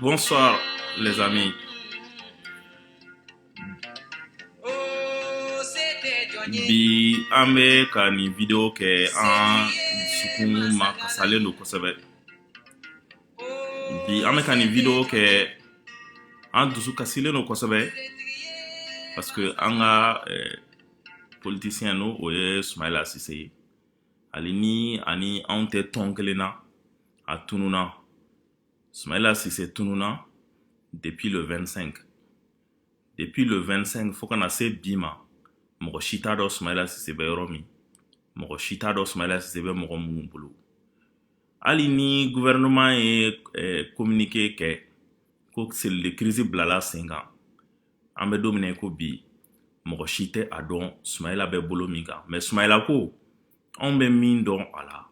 Bonsoir les amis. Bi an bɛ ka nin video kɛ an dusukun ma kasalen don kosɛbɛ. bi an bɛ ka nin video kɛ an dusu kasilen don kosɛbɛ parce que an ka eh, politisiyɛn n'o ye sumayila sise ye hali ni a ni anw tɛ tɔn kelen na a tununna sumayila sise tununna depuis le 25 depuis le 25 fo ka na se bi ma mɔgɔ si t'a dɔn sumayila sise bɛ yɔrɔ min mɔgɔ si t'a dɔn sumayila sise bɛ mɔgɔ minnu bolo hali ni gouvernement ye communiqué kɛ ko cellule de crise bilala sen kan an bɛ don min na ko bi mɔgɔ si tɛ a dɔn sumayila bɛ bolo min kan mais sumayila ko anw bɛ min dɔn a la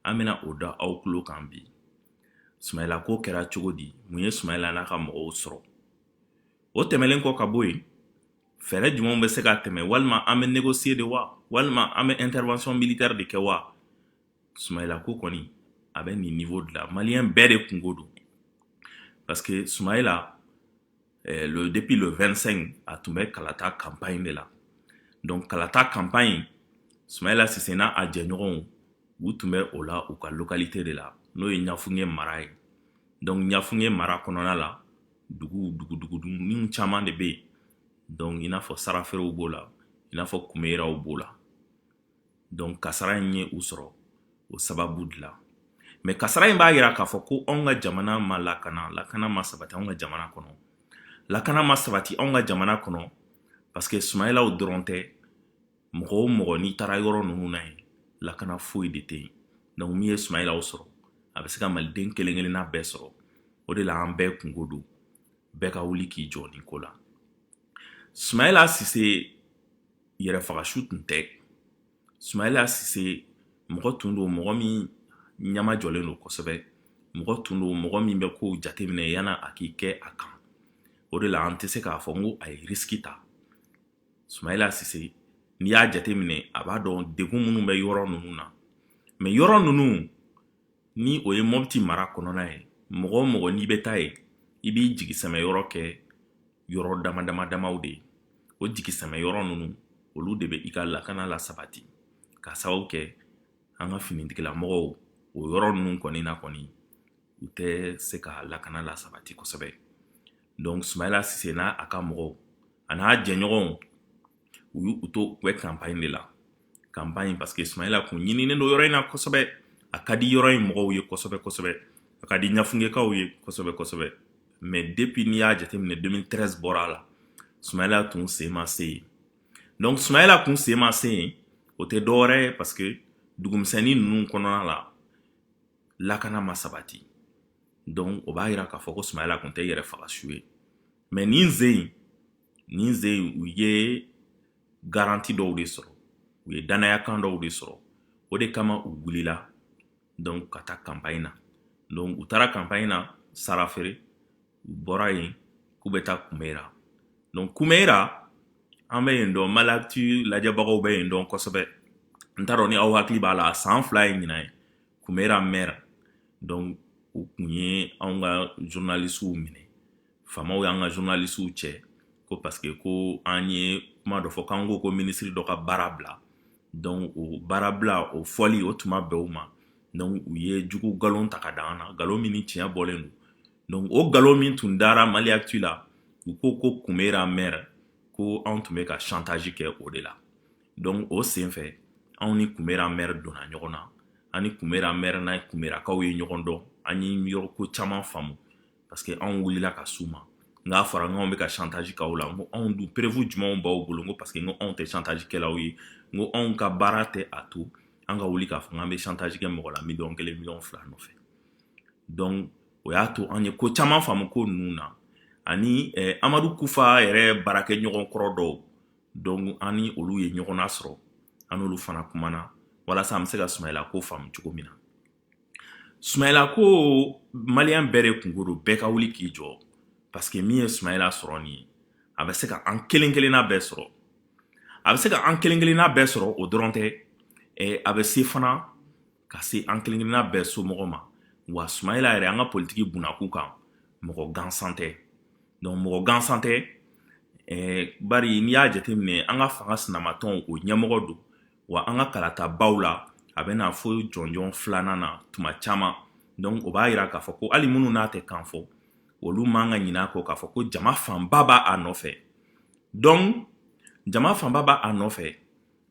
an bɛna o da aw tulo kan bi sumayila ko kɛra cogo di mun ye sumayila n'a ka mɔgɔw sɔrɔ o tɛmɛlen kɔ ka bɔ yen fɛɛrɛ jumɛnw bɛ se ka tɛmɛ walima an bɛ négocier de wa walima an bɛ intervention militaire de kɛ wa sumayila ko kɔni a bɛ nin niveau de la maliyɛn bɛɛ de kunko don parce que sumayila eh, le, depuis le 25 a tun bɛ kalata campagne de la donc kalata campagne sumayila sise n'a jɛɲɔgɔnw u tun bɛ o la u ka localité de la n'o ye ɲafunge mara ye donc ɲafunge mara kɔnɔna la dugu duguninw caman de bɛ yen donc i n'a fɔ saraferew b'o la i n'a fɔ kumayiraw b'o la donc kasara in ye u sɔrɔ o sababu de la mais kasara in b'a yira k'a fɔ ko anw ka jamana ma lakana lakana ma sabati anw ka jamana kɔnɔ lakana ma sabati anw ka jamana kɔnɔ parce que sumayilaw dɔrɔn tɛ mɔgɔ o mɔgɔ n'i taara yɔrɔ ninnu na yen lakana foyi de tɛ yen donc min ye sumayilaw sɔrɔ a bɛ se ka maliden kelen kelenna bɛɛ sɔrɔ o de la an bɛɛ kunko don bɛɛ ka wuli k'i jɔ nin ko la sumayila sise yɛrɛfagasu tun tɛ sumayila sise mɔgɔ tun don mɔgɔ min ɲɛmajɔlen don kosɛbɛ mɔgɔ tun don mɔgɔ min bɛ kow jateminɛ yanni a k'i kɛ a kan o de la an tɛ se k'a fɔ n ko a ye risiki ta sumayila sise n'i y'a jateminɛ a b'a dɔn degun minnu bɛ yɔrɔ ninnu na mais yɔrɔ ninnu ni o ye mɔbiti mara kɔnɔna ye mɔgɔ o mɔgɔ n'i bɛ taa yen i b'i jigisɛmɛyɔrɔ kɛ yɔrɔ dama dama damaw de ye o jigisɛmɛyɔrɔ ninnu olu de bɛ i ka lakana lasabati ka sababu kɛ an ka finitigilamɔgɔw o yɔrɔ ninnu kɔni na kɔni u tɛ se ka lakana lasabati kosɛbɛ donc sumayila sise n'a ka mɔgɔw an'a jɛɲɔgɔnw u y'u to u bɛ kanpaɲi de la kanpaɲi parce que sumayila kun ɲininen don yɔrɔ in na kosɛbɛ a ka di yɔrɔ in mɔgɔw ye kosɛbɛ kosɛbɛ a ka di ɲafungekaw ye kosɛbɛ kosɛbɛ mais depuis n'i y'a jateminɛ 2013 bɔra a la sumayila tun sen ma se yen donc sumayila kun sen ma se yen o tɛ dɔwɛrɛ ye parce que dugumisɛnnin ninnu kɔnɔna la lakana ma sabati donc o b'a yira k'a fɔ ko sumayila kun tɛ yɛrɛfagasu ye mais nin sen nin sen in u ye garanti dɔw de sɔrɔ u ye dannayakan dɔw de sɔrɔ o de kama u wulila donc ka taa kanpaɲi na donc u taara kanpaɲi na sarafere u bɔra yen k'u bɛ taa kumeyira donc kumeyira an bɛ yen dɔn mali actu lajɛbagaw bɛ yen dɔn kosɛbɛ n t'a dɔn ni aw hakili b'a la a san fila ye ɲinan ye kumeyira mɛri donc u kun ye anw ka journalisiw minɛ faamaw y'an ka journalisiw cɛ ko parce que ko an ye kuma dɔ fɔ k'an ko ko minisiri dɔ ka baara bila donc o baara bila o fɔli o tun ma bɛn u ma donc u ye jugu nkalon ta ka da an na nkalon min ni tiɲɛ bɔlen don donc o nkalon min tun dara mali actu la u ko ko kumeyira mɛri ko anw tun bɛ ka chantage kɛ o de la donc o sen fɛ anw ni kumeyira mɛri donna ɲɔgɔn na an ni kumeyira mɛri n'a kumeyirakaw ye ɲɔgɔn dɔn an ye yɔrɔ ko caman faamu parce que anw wulila ka s'u ma n k'a fɔra n k'anw bɛ ka chantage k'aw la n ko anw dun preuve jumɛnw b'aw bolo n ko parce que n ko anw tɛ chantage kɛlaw ye n ko anw ka baara tɛ a to an ka wuli k'a fɔ k'an bɛ chantage kɛ mɔgɔ la miliyɔn kelen miliyɔn fila nɔfɛ donc o y'a to an ye ko caman faamu ko ninnu na ani eh, amadu kufa yɛrɛ baarakɛɲɔgɔn kɔrɔ dɔw donc an ni olu ye ɲɔgɔn nasɔrɔ an n'olu fana kumana walasa an bɛ se ka sumayila ko faamu cogo min na Sumayila ko maliyɛn bɛɛ de kunko don bɛɛ ka wuli k'i jɔ parce que min ye sumayila sɔrɔ nin ye a bɛ se ka an kelen kelenna bɛɛ sɔrɔ a bɛ se ka an kelen kelenna bɛɛ sɔrɔ o dɔrɔn tɛ a bɛ se fana ka se an kelen kelenna bɛɛ somɔgɔ ma wa sumayila yɛrɛ an ka politiki bunakun kan mɔgɔ gansan tɛ donc mɔgɔ gansan tɛ bari n'i y'a jateminɛ an ka fanga sinamatɔn o ɲɛmɔgɔ don wa an ka kalatabaw la a bɛ na fo jɔnjɔn filanan na tuma caman donc o b'a yira k'a fɔ ko hali minnu n'a tɛ kan fɔ olu man ka ɲin'a kɔ k'a fɔ ko jama fanba b'a nɔfɛ donc jama fanba b'a nɔfɛ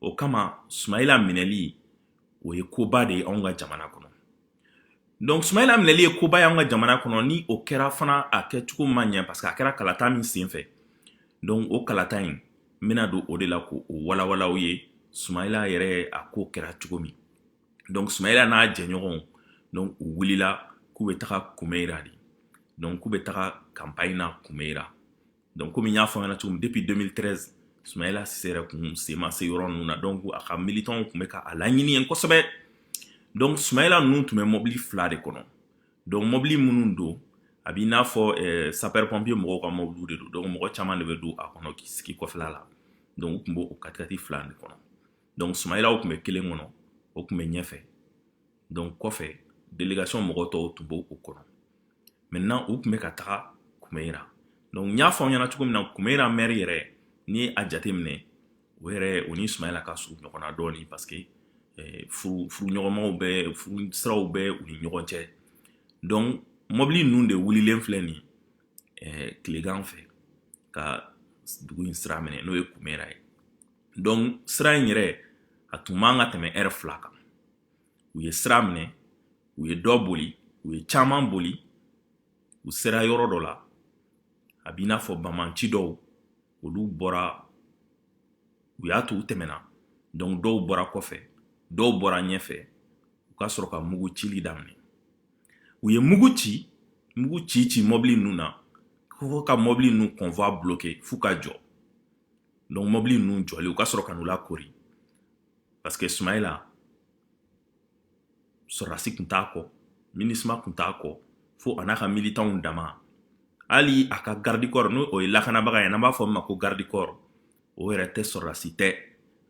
o kama sumayila minɛli o ye koba de ye anw ka jamana kɔnɔ Donc Soumaïla minɛli ye koba y'an ka jamana kɔnɔ ni o kɛra fana a kɛcogo ma ɲɛ parce que a kɛra kalata min senfɛ donc o kalata in n bɛna don o de la k'o walawala aw ye Soumaïla yɛrɛ a ko kɛra cogo min donc Soumaïla n'a jɛɲɔgɔnw donc u wulila k'u bɛ taga Kumeira de donc k'u bɛ taga campagne na Kumeira donc komi n y'a fɔ ɲɛna cogo min depuis 2013 sumayila sise yɛrɛ kun sen ma se yɔrɔ ninnu na donc a ka militanw tun bɛ ka a laɲini yen kosɛbɛ donc sumayila ninnu tun bɛ mɔbili fila de kɔnɔ donc mɔbili minnu don a b'i n'a fɔ eh, sapeur pompier mɔgɔw ka mɔbiliw de don donc mɔgɔ caman de bɛ don a kɔnɔ k'i sigi kɔfɛla la donc u tun b'o katikati fila de kɔnɔ donc sumayilaw tun bɛ kelen kɔnɔ o tun bɛ ɲɛfɛ donc kɔfɛ délégation mɔgɔ tɔw tun b'o kɔnɔ maintenant u tun bɛ ka taga kumeyira donc n y'a fɔ aw ɲɛna cogo min na kumeyira mɛri yɛrɛ n'i ye a jateminɛ o yɛrɛ o ni sumayila ka surun ɲɔgɔn na dɔɔnin parce que eh, furu furuɲɔgɔnmaw bɛ furu siraw bɛ u ni ɲɔgɔn cɛ donc mɔbili ninnu de wulilen filɛ nin eh, tilegan fɛ ka dugu in sira minɛ n'o ye kumeyira ye donc sira in yɛrɛ a tun man ka tɛmɛ ɛrɛ fila kan u ye sira minɛ u ye dɔ boli u ye caman boli u sera yɔrɔ dɔ la a b'i n'a fɔ bamanci dɔw olu bɔra u y'a to u tɛmɛna donc dɔw bɔra kɔfɛ dɔw bɔra ɲɛfɛ u ka sɔrɔ ka mugu cili daminɛ u ye mugu ci mugu ci ci mɔbili ninnu na fo ka mɔbili ninnu convoi bloke f'u ka jɔ donc mɔbili ninnu jɔlen u ka sɔrɔ ka n'u lakori Parce que Soumaïla, sɔrɔdasi kun t'a kɔ MINUSMA kun t'a kɔ fo a n'a ka militanw dama hali a ka garde corps n'o o ye lakanabaga ye n'an b'a fɔ min ma ko garde corps o yɛrɛ tɛ sɔrɔdasi tɛ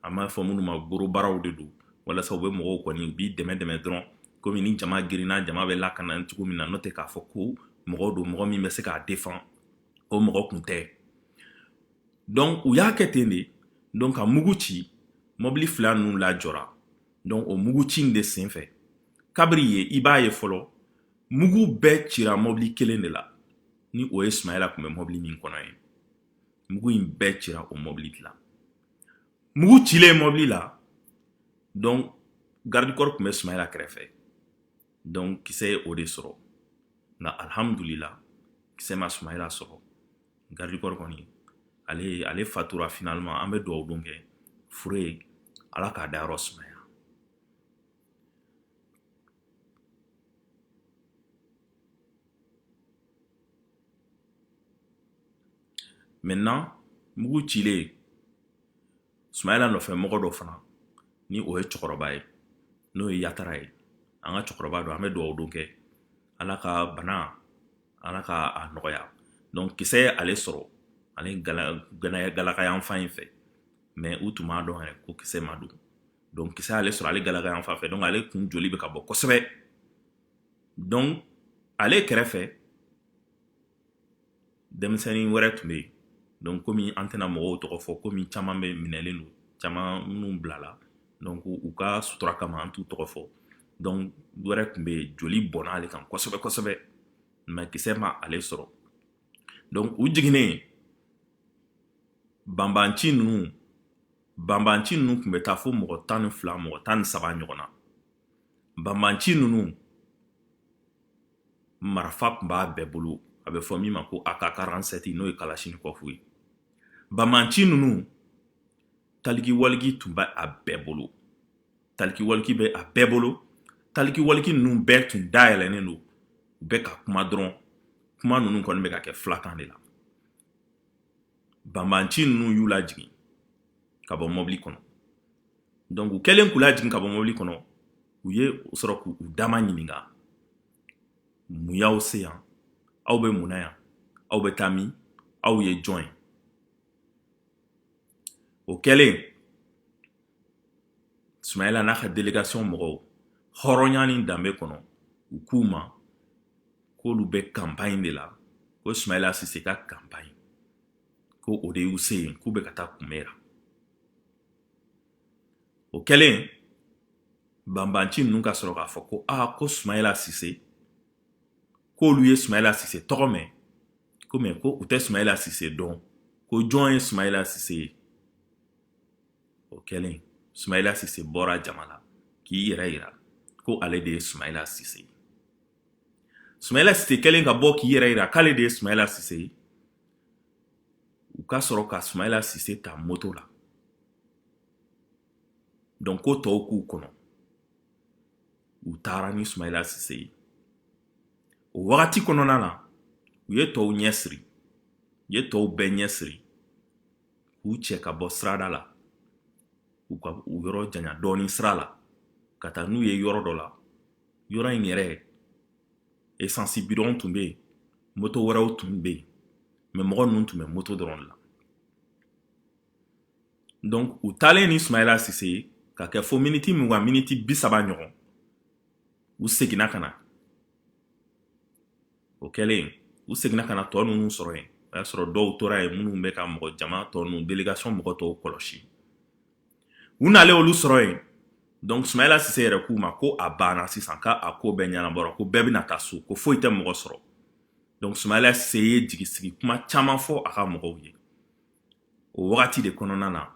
an b'a fɔ minnu ma gorobaraw de don walasa u bɛ mɔgɔw kɔni u b'i dɛmɛ dɛmɛ dɔrɔn komi ni jama girinna jama bɛ lakana cogo min na n'o tɛ k'a fɔ ko mɔgɔ don mɔgɔ min bɛ se k'a défend o mɔgɔ kun tɛ donc u y'a kɛ ten de donc ka mugu ci mɔbili fila ninnu lajɔra donc o mugu ci in de senfɛ kabiri yen i b'a ye fɔlɔ mugu bɛɛ cira mɔbili kelen de la ni o ye sumayila tun bɛ mɔbili min kɔnɔ ye mugu in bɛɛ cira o mɔbili de la mugu cilen mɔbili la donc garde corps tun bɛ sumayila kɛrɛfɛ donc kisɛ ye o de sɔrɔ nka alhamdulila kisɛ ma sumayila sɔrɔ garde corps kɔni ale fatura finalement an bɛ dugawu don kɛ fure ye ala k'a dayɔrɔ sumaya maintenant mugu cilen sumayila nɔfɛ mɔgɔ dɔ fana ni o ye cɛkɔrɔba ye n'o ye yatara ye an ka cɛkɔrɔba don an bɛ dugawu don kɛ ala ka bana ala ka a nɔgɔya donc kisɛ ye ale sɔrɔ ale galaka yan fan in fɛ mais u tun b'a dɔn yɛrɛ ko kisɛ ma don donc kisɛ ale sɔrɔ ale galaka yan fan fɛ donc ale kun joli bɛ ka bɔ kosɛbɛ donc ale kɛrɛfɛ denmisɛnnin wɛrɛ tun bɛ yen donc komi an tɛna mɔgɔw tɔgɔ fɔ komi caman bɛ minɛlen don caman minnu bilala donc u ka sutura kama an t'u tɔgɔ fɔ donc wɛrɛ tun bɛ yen joli bɔnna ale kan kosɛbɛ kosɛbɛ mais kisɛ ma ale sɔrɔ donc u jiginnen banbanci ninnu banbanci ninnu tun bɛ taa fo mɔgɔ tan ni fila mɔgɔ tan ni saba ɲɔgɔn na banbanci ninnu marifa tun b'a bɛɛ bolo a bɛ fɔ min ma ko ak quarante-sept n'o ye kalachnikov ye banbanci ninnu talikiwaliki tun bɛ a bɛɛ bolo talikiwaliki bɛ a bɛɛ bolo talikiwaliki ninnu bɛɛ tun dayɛlɛnnen don u bɛ ka kuma dɔrɔn kuma ninnu kɔni bɛ ka kɛ filakan de la banbanci ninnu y'u lajigin ka bɔ mɔbili kɔnɔ donc u kɛlen k'u lajigin ka bɔ mɔbili kɔnɔ u ye sɔrɔ k'u dama ɲininka mun y'aw se yan aw bɛ mun na yan aw bɛ taa min aw ye jɔn ye o kɛlen sumayila n'a ka délégation mɔgɔw hɔrɔnya ni danbe kɔnɔ u k'u ma k'olu bɛ campagne de la ko sumayila sise ka campagne ko o de y'u se yen k'u bɛ ka taa kumayira o kɛlen banbanci ninnu ka sɔrɔ k'a fɔ ko aa ko sumayila sise k'olu ye sumayila sise tɔgɔ mɛn ko mais ko u tɛ sumayila sise dɔn ko jɔn ye sumayila sise ye o kɛlen sumayila sise bɔra jama la k'i yɛrɛ yira ko ale de ye sumayila sise ye sumayila sise kɛlen ka bɔ k'i yɛrɛ yira k'ale de ye sumayila sise ye u ka sɔrɔ ka sumayila sise ta moto la donc ko tɔw k'u kɔnɔ u taara ni sumayila sise ye o wagati kɔnɔna na u ye tɔw ɲɛ siri u ye tɔw bɛɛ ɲɛ siri k'u cɛ ka bɔ sirada la u ka u yɔrɔ janya dɔɔni sira la ka taa n'u ye yɔrɔ dɔ la yɔrɔ in yɛrɛ esansi bidɔn tun bɛ yen moto wɛrɛw tun bɛ yen mɛ mɔgɔ ninnu tun bɛ moto dɔrɔn de la donc u taalen ni sumayila sise ye ka kɛ fo miniti mugan miniti bi saba ɲɔgɔn u seginna ka na o kɛlen u seginna ka na tɔ ninnu sɔrɔ yen o y'a sɔrɔ dɔw tora yen minnu bɛ ka mɔgɔ jama tɔ ninnu delegation mɔgɔ tɔw kɔlɔsi u nalen olu sɔrɔ yen donc sumayila sise yɛrɛ k'u ma ko a banna sisan ka a ko bɛɛ ɲɛnabɔra ko bɛɛ bɛna taa so ko foyi tɛ mɔgɔ sɔrɔ donc sumayila sise ye jigisigi kuma caman fɔ a ka mɔgɔw ye o wagati de kɔnɔna na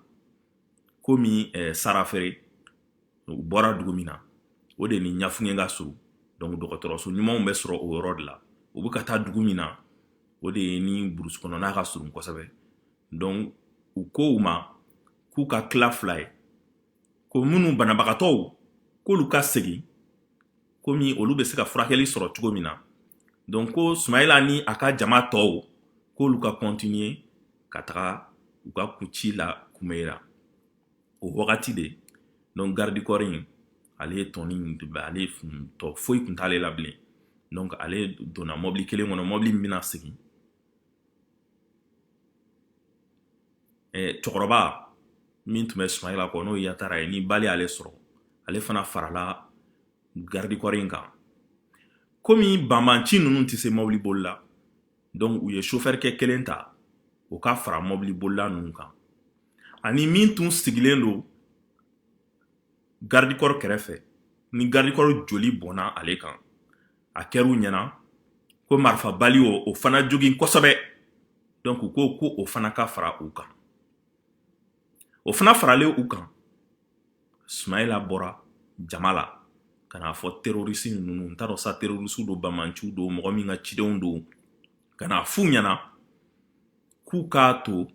komi eh, sarafere u bɔra dugu min na o de ni ɲafunke ka surun donc dɔgɔtɔrɔso ɲumanw bɛ sɔrɔ o yɔrɔ de la u bɛ ka taa dugu min na o de ye ni burusi kɔnɔna ka surun kosɛbɛ donc u ko u ma k'u ka tila fila ye ko minnu banabagatɔw k'olu ka segin komi olu bɛ se ka furakɛli sɔrɔ cogo min na donc ko sumayila ni a ka jama tɔw k'olu ka kɔntiniye ka taga u ka kuci la kumayira o wagati de donc garidikɔri in ale ye tɔni in ale tɔ foyi kun t'ale la bilen donc ale donna mɔbili kelen kɔnɔ mɔbili min bɛna segin cɛkɔrɔba min tun bɛ sumayila kɔ n'o yatara ye ni bali ale sɔrɔ ale fana farala garidikɔri in kan komi banbanci ninnu tɛ se mɔbili boli la donc u ye sofɛrikɛ kelen ta u ka fara mɔbili bolila ninnu kan ani min tun sigilen don garidikɔri kɛrɛfɛ ni garidikɔri joli bɔnna ale kan a kɛra u ɲɛna ko marifa bali y'o fana jogin kosɛbɛ donc u ko ko o fana ka fara u kan o fana faralen u kan sumayila bɔra jama la ka n'a fɔ terorisi ninnu n t'a dɔn sa terorisiw don banbanciw don mɔgɔ min ka cidenw don ka n'a f'u ɲɛna k'u k'a to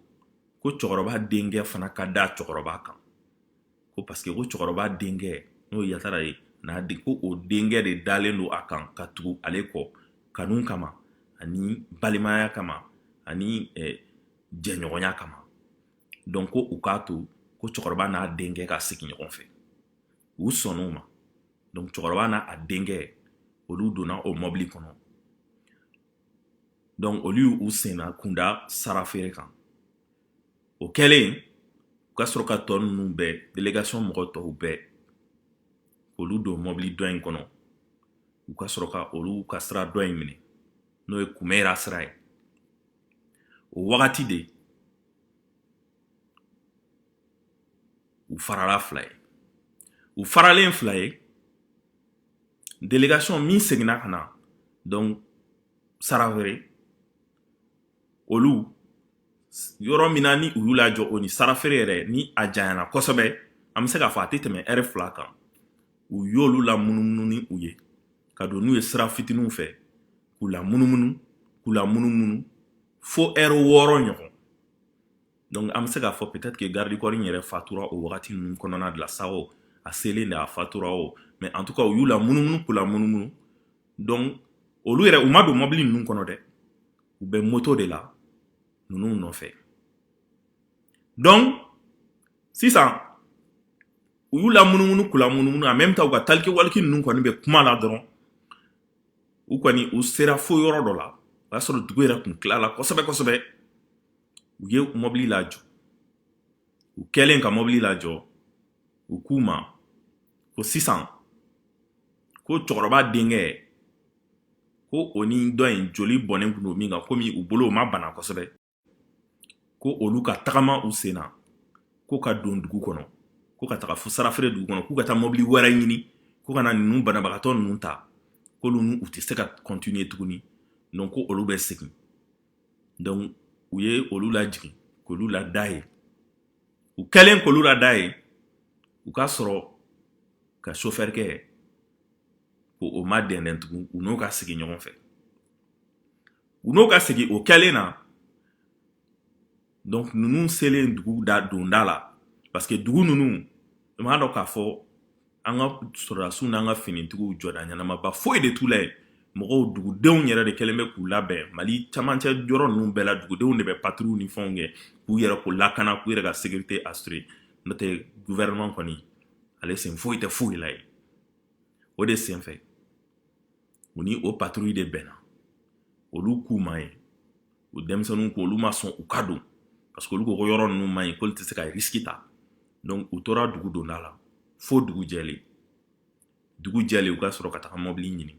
ko cɛkɔrɔba denkɛ fana ka da cɛkɔrɔba kan ko parce que ko cɛkɔrɔba denkɛ n'o yatara ye n'a di ko o denkɛ de dalen don a kan ka tugu ale kɔ kanu kama ani balimaya kama ani eh, jɛɲɔgɔnya kama donc ko u k'a to ko cɛkɔrɔba n'a denkɛ ka segin ɲɔgɔn fɛ u sɔnn'o ma donc cɛkɔrɔba n'a a denkɛ olu donna o mɔbili kɔnɔ donc olu y'u senna kunda sarafere kan o kɛlen u ka sɔrɔ ka tɔ ninnu bɛɛ delegation mɔgɔ tɔw bɛɛ olu don mɔbili dɔ in kɔnɔ u ka sɔrɔ ka olu ka sira dɔ in minɛ n'o ye kumayira sira ye o wagati de u farala fila ye u faralen fila ye delegation min seginna ka na donc sarafeere olu yɔrɔ min na ni u y'u lajɔ o ni sarafeere yɛrɛ ni a janyana kosɛbɛ an bɛ se k'a fɔ a tɛ tɛmɛ ɛrɛ fila kan u y'olu la munumunu ni u ye ka don n'u ye sira fitininw fɛ k'u la munumunu k'u la munumunu fo ɛrɛ wɔɔrɔ ɲɔgɔn donc an bɛ se k'a fɔ peut-être que garde corps in yɛrɛ fatura o wagati ninnu kɔnɔna de la sa o a selen de a fatura o mais en tout cas u y'u la munumunu k'u la munumunu donc olu yɛrɛ u ma don mɔbili ninnu kɔnɔ dɛ u bɛ moto de la ninnu nɔfɛ donc sisan u y'u la munumunu k'u la munumunu en même temps u ka taliki waliki ninnu kɔni bɛ kuma la dɔrɔn u kɔni u sera fo yɔrɔ dɔ la o y'a sɔrɔ dugu yɛrɛ kun tilala kosɛbɛ kosɛbɛ u ye mɔbili lajɔ u kɛlen ka mɔbili lajɔ u k'u ma ko sisan ko cɛkɔrɔba denkɛ ko o ni dɔ in joli bɔnnen kun don min kan komi u bolo o ma bana kosɛbɛ ko olu ka tagama u sen na ko ka don dugu kɔnɔ ko ka taga fo sarafeere dugu kɔnɔ k'u ka taa mɔbili wɛrɛ ɲini ko ka na ninnu banabagatɔ ninnu ta k'olu u tɛ se ka kɔntiniye tuguni donc ko olu bɛ segin donc u ye olu lajigin k'olu lada yen u kɛlen k'olu lada yen u ka sɔrɔ ka sofɛrikɛ k'o ma dɛndɛn tugun u n'o ka segin ɲɔgɔn fɛ u n'o ka segin o kɛlen na donc ninnu selen dugu donda la parce que dugu ninnu i m'a dɔn k'a fɔ an ka sɔrɔdasiw n'an ka finitigiw jɔda ɲɛnamaba foyi de t'u la yen mɔgɔw dugudenw yɛrɛ de kɛlen bɛ k'u labɛn mali camancɛ yɔrɔ ninnu bɛɛ la dugudenw de bɛ patrouille ni fɛnw kɛ k'u yɛrɛkun lakana k'u yɛrɛ ka sécurité assurer n'o tɛ gouvernement kɔni ale sen foyi tɛ foyi la yen o de senfɛ u ni o patrouille de bɛnna olu k'u ma ye o denmisɛnninw ko olu ma sɔn u ka don parce que olu ko ko yɔrɔ ninnu man ɲi k'olu tɛ se ka risiki ta donc u tora dugu donda la fo dugu jɛlen dugu jɛlen u ka sɔrɔ ka taga mɔbili ɲini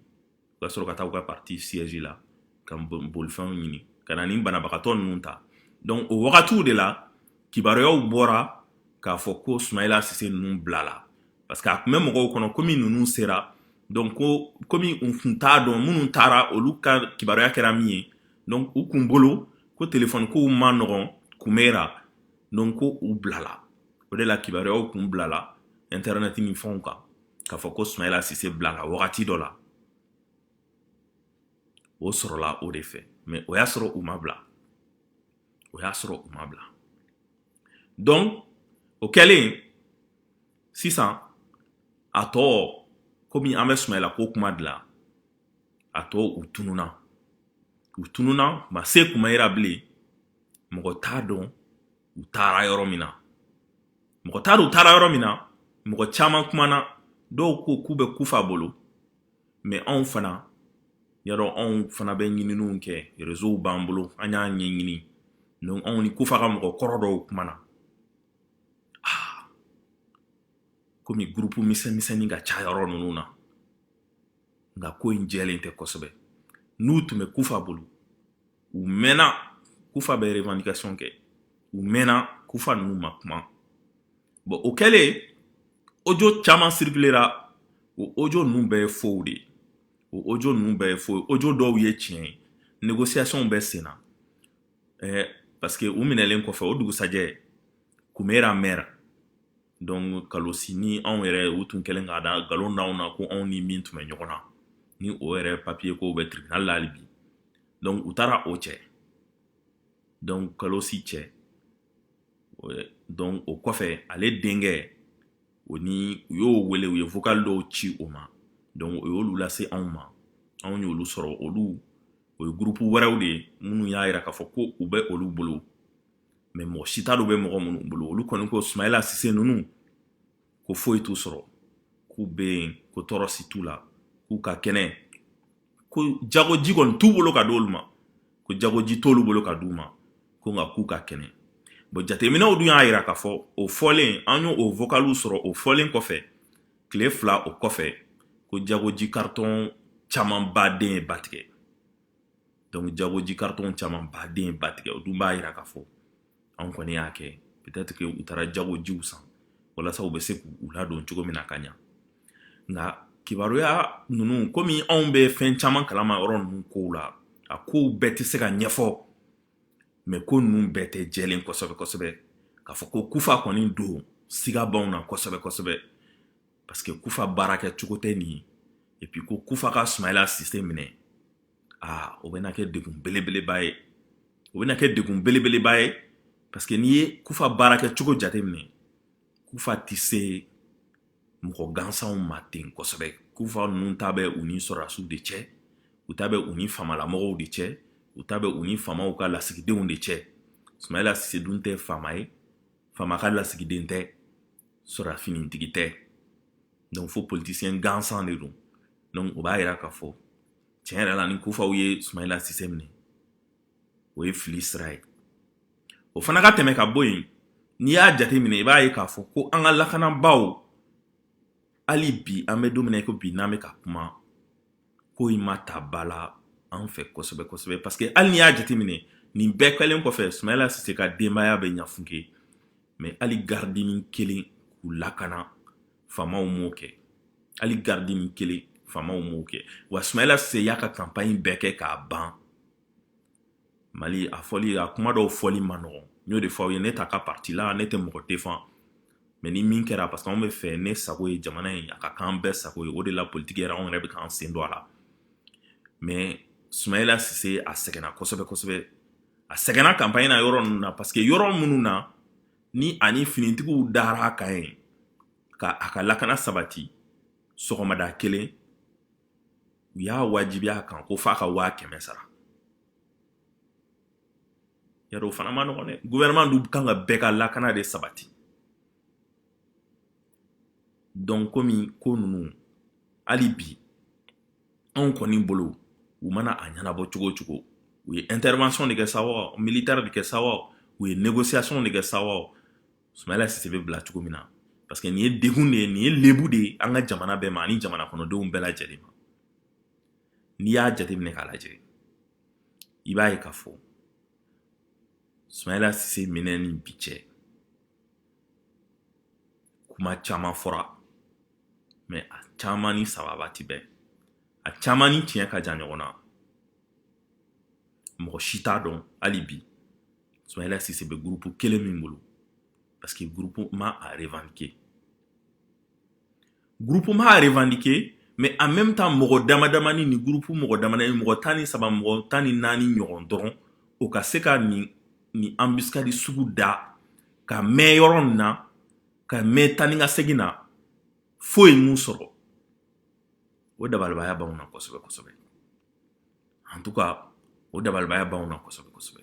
u ka sɔrɔ ka taa u ka parti siège la ka bolifɛnw ɲini ka na ni banabagatɔ ninnu ta donc o wagatiw de la kibaruyaw bɔra k'a fɔ ko sumayila sise ninnu bilala parce que a tun bɛ mɔgɔw kɔnɔ komi ninnu sera donc ko komi u tun t'a dɔn minnu taara olu ka kibaruya kɛra min ye donc u kun bolo ko telefɔni kow man nɔgɔn kumera donc ko u bilala o de la kibaruyaw kun bilala internet ni fɛnw kan k'a fɔ ko sumayila sise bilala wagati dɔ la o sɔrɔla o de fɛ mais o y'a sɔrɔ u ma bila o y'a sɔrɔ u ma bila donc o kɛlen sisan a tɔ komi an bɛ sumayila ko kuma de la a tɔ u tununa u tununa ma se kumayira bilen mɔgɔ t'a dɔn u taara yɔrɔ min na mɔgɔ t'a dɔn u taara yɔrɔ min na mɔgɔ caman kumana dɔw ko k'u bɛ kufa bolo mais anw fana ye dɔ anw fana bɛ ɲininiw kɛ rezow b'an bolo an y'a ɲɛɲini donc anw ni kufa ka mɔgɔ kɔrɔ dɔw kumana ah, komi gurupu misɛnmisɛnnin ka ca yɔrɔ ninnu na nka ko in jɛlen tɛ kosɛbɛ n'u tun bɛ kufa bolo u mɛnna kufa bɛ revendication kɛ u mɛnna kufa ninnu ma kuma bon o kɛlen audio caman circulera o audio ninnu bɛɛ ye faux de ye o audio ninnu bɛɛ ye faux ye audio dɔw ye tiɲɛ ye négociation bɛ sen na ɛɛ parce que u minɛlen kɔfɛ o dugusajɛ kumera maire donc kalosi ni anw yɛrɛ u tun kɛlen k'a da nkalon d'anw na ko anw ni min tun bɛ ɲɔgɔn na ni o yɛrɛ papiye ko bɛ tribunal la hali bi donc u taara o cɛ donc kalosi cɛ donc o kɔfɛ ale denkɛ o ni u y'o wele u ye vocal dɔw ci o ma donc o y'olu lase anw ma anw y'olu sɔrɔ olu o ye gurupu wɛrɛw de ye minnu y'a yira k'a fɔ ko u bɛ olu bolo mais mɔgɔ si t'a dɔn u bɛ mɔgɔ minnu bolo olu kɔni ko sumayila sise ninnu ko foyi t'u sɔrɔ k'u bɛ yen ko tɔɔrɔ si t'u la k'u ka kɛnɛ ko jagoji kɔni t'u bolo ka di olu ma ko jagoji t'olu bolo ka di u ma ko nka k'u ka kɛnɛ bon jateminɛw dun y'a jira k'a fɔ o fɔlen an y'o vocaliw sɔrɔ o fɔlen kɔfɛ tile fila o kɔfɛ ko jagoji karitɔn camanba de ye ba tigɛ donc jagoji karitɔn caman ba de ye ba tigɛ o dun b'a yira k'a fɔ anw kɔni y'a kɛ peut-être que u taara jagojiw san walasa u bɛ se k'u ladon cogo min na ka ɲa nka kibaruya ninnu komi anw bɛ fɛn caman kalama yɔrɔ ninnu kow la a kow bɛɛ tɛ se ka ɲɛfɔ mais ko ninnu bɛɛ tɛ jɛlen kosɛbɛ kosɛbɛ k'a fɔ ko kufa kɔni don siga b'anw na kosɛbɛ kosɛbɛ parce que kufa baara kɛ cogo tɛ nin ye et puis ko kufa ka sumayila sise minɛ aa o bɛna kɛ degun belebeleba ye o bɛna kɛ degun belebeleba ye parce que n'i ye kufa baara kɛ cogo jateminɛ kufa tɛ se mɔgɔ gansanw ma ten kosɛbɛ kufa ninnu ta bɛ u ni sɔrɔdasiw de cɛ u ta bɛ u ni famalamɔgɔw de cɛ u ta bɛ u ni famaw ka lasigidenw de cɛ sumayila sise dun tɛ fama ye fama ka lasigiden tɛ sɔrɔda finitigi tɛ donc fo politisiyɛn gansan de don donc o b'a yira k'a fɔ tiɲɛ yɛrɛ la ni kufaw ye sumayila sise minɛ o ye fili sira ye o fana ka tɛmɛ ka bɔ yen n'i y'a jate minɛ i b'a ye k'a fɔ ko an ka lakanabaaw hali bi an bɛ don min na ko bi n'an bɛ ka kuma ko in ma ta ba la an fɛ kosɛbɛ kosɛbɛ parce que hali n'i y'a jate minɛ nin bɛɛ kɛlen kɔfɛ sumayila sise ka denbaya bɛ ɲafunke mais hali garidini kelen k'u lakana faamaw m'o kɛ hali garidini kelen faamaw m'o kɛ wa sumayila sise y'a ka kanpaɲi bɛɛ kɛ k'a ban mali a fɔli a kuma dɔw fɔli man nɔgɔn n y'o de fɔ aw ye ne t'a ka parti la ne tɛ mɔgɔ defan mais ni min kɛra parce que anw bɛ fɛ ne sago ye jamana ye a ka k'an bɛɛ sago ye o de la politiki yɛrɛ anw yɛrɛ bɛ k'an sen don a la mais sumayila sise a sɛgɛnna kosɛbɛ kosɛbɛ a sɛgɛnna kanpaɲi na yɔrɔ ninnu na parce que yɔrɔ minnu na ni ani finitigiw dara a kan yen ka a ka lakana sabati sɔgɔmada kelen u y'a wajibiya a kan ko f'a ka waa kɛmɛ sara yɛrɛ o fana man nɔgɔn dɛ gouvernement dun ka kan ka bɛɛ ka lakana de sabati donc komi ko ninnu hali bi anw kɔni bolo u mana a ɲɛnabɔ cogo o cogo u ye intervention de kɛ sa wa militaire de kɛ sa wa u ye négociation de kɛ sa wa sumayila sise bɛ bila cogo min na parce que nin ye degun de ye nin ye lebu de ye an ka jamana bɛɛ ma ani jamana kɔnɔdenw bɛɛ lajɛlen ma n'i y'a jateminɛ k'a lajɛ i b'a ye k'a fɔ sumayila sise minɛ ni bi cɛ kuma caman fɔra mais a caman ni sababu tɛ bɛn a caman ni tiɲɛ ka jan ɲɔgɔn na mɔgɔ si t'a dɔn hali bi sumayila sise bɛ gurupu kelen min bolo parce que gurupu ma a revendiquer Groupe ma a revendiquer mais en même temps mɔgɔ dama damani ni groupe mɔgɔ dama damani mɔgɔ tan ni saba mɔgɔ tan ni naani ɲɔgɔn dɔrɔn o ka se ka nin embuscade sugu da ka mɛɛn yɔrɔ nin na ka mɛɛn tan ni ka segin na foyi m'u sɔrɔ o dabalibaya b'anw na kosɛbɛ kosɛbɛ en tout cas o dabalibaya b'anw na kosɛbɛ kosɛbɛ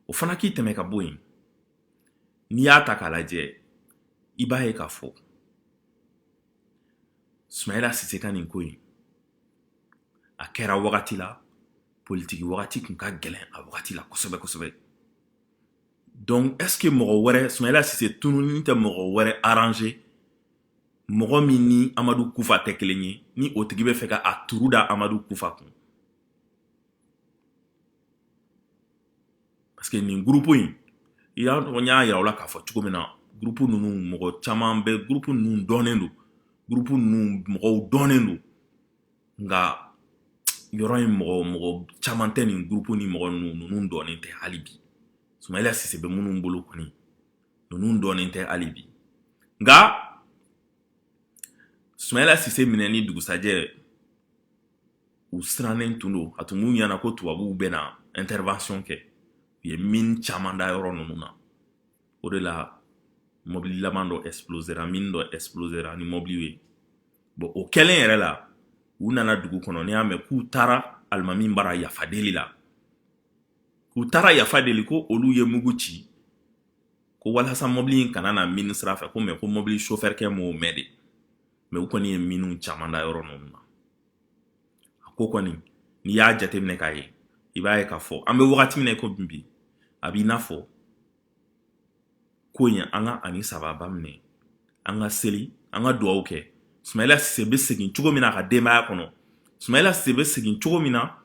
o fana k'i tɛmɛ ka bɔ yen n'i y'a ta k'a lajɛ i b'a ye k'a fɔ sumayila sise ka nin ko in a kɛra wagati la politiki wagati tun ka gɛlɛn a wagati la kosɛbɛ kosɛbɛ donc est ce que mɔgɔ wɛrɛ sumayila sise tununi tɛ mɔgɔ wɛrɛ arranger mɔgɔ min ni amadu kufa tɛ kelen ye ni o tigi bɛ fɛ ka a turu da amadu kufa kun Parce que nin groupe in n y'a yira aw la k'a fɔ cogo min na groupe ninnu mɔgɔ caman bɛ groupe ninnu dɔnnen don groupe ninnu mɔgɔw dɔnnen don nka yɔrɔ in mɔgɔ mɔgɔ caman tɛ nin groupe ni mɔgɔ ninnu dɔnnen tɛ hali bi sumayila sise bɛ minnu bolo kɔni ninnu dɔnnen tɛ hali bi nka sumayila sise minɛni dugusajɛ u sirannen tun don a tun b'u ɲɛna ko tubabuw bɛ na intervention kɛ u ye mini caman da yɔrɔ ninnu na o de la mɔbili laban dɔ explosera mini dɔ explosera ni mɔbiliw ye bon o kɛlen yɛrɛ la u nana dugu kɔnɔ n'i y'a mɛn k'u taara alimami bara yafa deli la k'u taara yafa deli ko olu ye mugu ci ko walasa mɔbili in kana na mini sira fɛ ko mais ko mɔbili sofɛrikɛ m'o mɛn de mais u kɔni ye miniw caman da yɔrɔ ninnu na a ko kɔni n'i y'a jateminɛ k'a ye i b'a ye k'a fɔ an bɛ wagati min na ko bi a b'i n'a fɔ ko in an ka ani sababa minɛ an ka seli an ka dugawu kɛ sumayila sise bɛ segin cogo min na a ka denbaya kɔnɔ sumayila sise bɛ segin cogo min na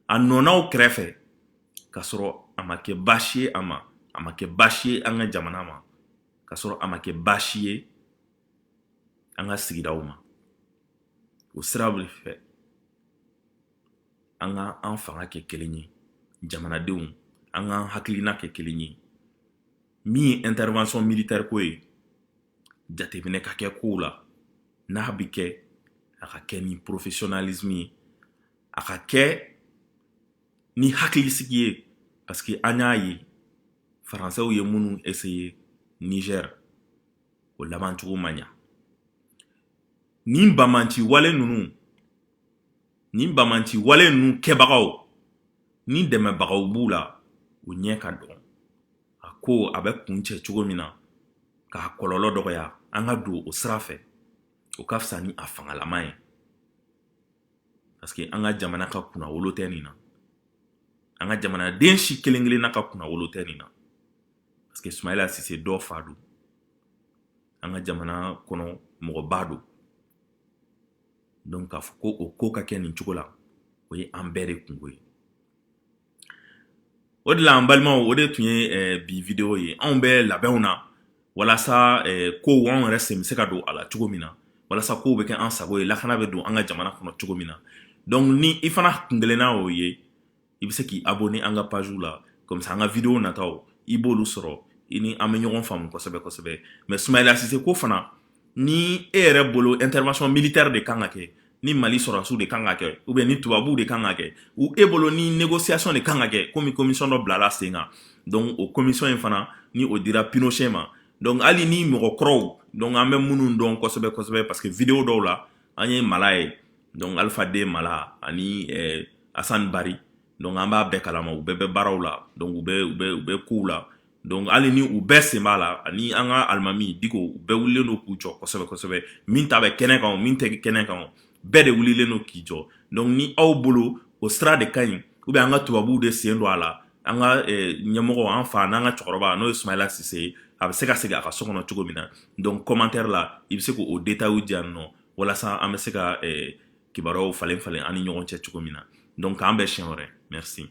a nɔ na u kɛrɛfɛ ka sɔrɔ a ma kɛ baasi ye a ma a ma kɛ baasi ye an ka jamana ma ka sɔrɔ a ma kɛ baasi ye an ka sigidaw ma o sira bɛ fɛ an ka an fanga kɛ kelen ye jamanadenw an ka an hakilina kɛ kelen ye min ye intervention militaire ko ye jateminɛ ka kɛ kow la n'a bɛ kɛ a ka kɛ ni professionnalisme ye a ka kɛ ni hakilisigi ye parce que an y'a ye faransɛw ye minnu essayer Niger o labancogo ma ɲa nin bamanci wale ninnu nin bamanci wale ninnu kɛbagaw ni dɛmɛbagaw b'u la u ɲɛ ka dɔn a ko a bɛ kuncɛ cogo min na k'a kɔlɔlɔ dɔgɔya an ka don o sira fɛ o ka fisa ni a fangalama ye parce que an ka jamana ka kunnawolo tɛ nin na an ka jamanaden si kelen kelenna ka kunnawolo tɛ nin na parce que sumayila sise dɔ fa don an ka jamana kɔnɔ mɔgɔba don donc k'a fɔ ko o ko ka kɛ nin cogo la o ye an bɛɛ de kunko ye o de la an balimaw o de tun ye eh, bi video ye anw bɛ labɛnw na walasa eh, kow anw yɛrɛ sen bɛ se ka don a la cogo min na walasa kow bɛ kɛ an sago ye lakana bɛ don an ka jamana kɔnɔ cogo min na donc ni i fana kunkelenna o ye i bɛ se k'i abonner an ka page la comme ça an ka video nataw i b'olu sɔrɔ i ni an bɛ ɲɔgɔn faamu kosɛbɛ kosɛbɛ mais sumayila sise ko fana ni e yɛrɛ bolo intervention militaire de kan ka kɛ ni mali sɔrɔdasiw de kan ka kɛ ou bien ni tubabuw de kan ka kɛ ou e bolo ni négociation de kan ka kɛ komi commission dɔ bilala sen kan donc o commission in fana ni o dira pinochet ma donc hali ni mɔgɔkɔrɔw donc an bɛ minnu dɔn kosɛbɛ kosɛbɛ parce que video dɔw la an ye mala ye donc alpha den mala ani eh, asan bari donc an b'a bɛɛ kalama u bɛɛ bɛ baaraw la donc u bɛ u bɛ u bɛ kow la donc hali ni u bɛɛ sen b'a la ani an ka alimami diko u bɛɛ wulilen don k'u jɔ kosɛbɛ kosɛbɛ min ta bɛ kɛnɛ kan o min tɛ kɛnɛ kan o bɛɛ de wulilen don k'i jɔ donc ni aw bolo o sira de ka ɲi ou bien an ka tubabuw de sen don a la an ka eh, ɲɛmɔgɔ an fa n'an ka cɛkɔrɔba n'o ye sumayila sise ye a bɛ se ka segin a ka so kɔnɔ cogo min na donc commentaire la i bɛ se k'o détail di yan nɔ walasa an bɛ se ka eh, kibaruyaw falen falen an ni ɲɔgɔn cɛ cogo min na donc k'an bɛn siɲɛ wɛrɛ merci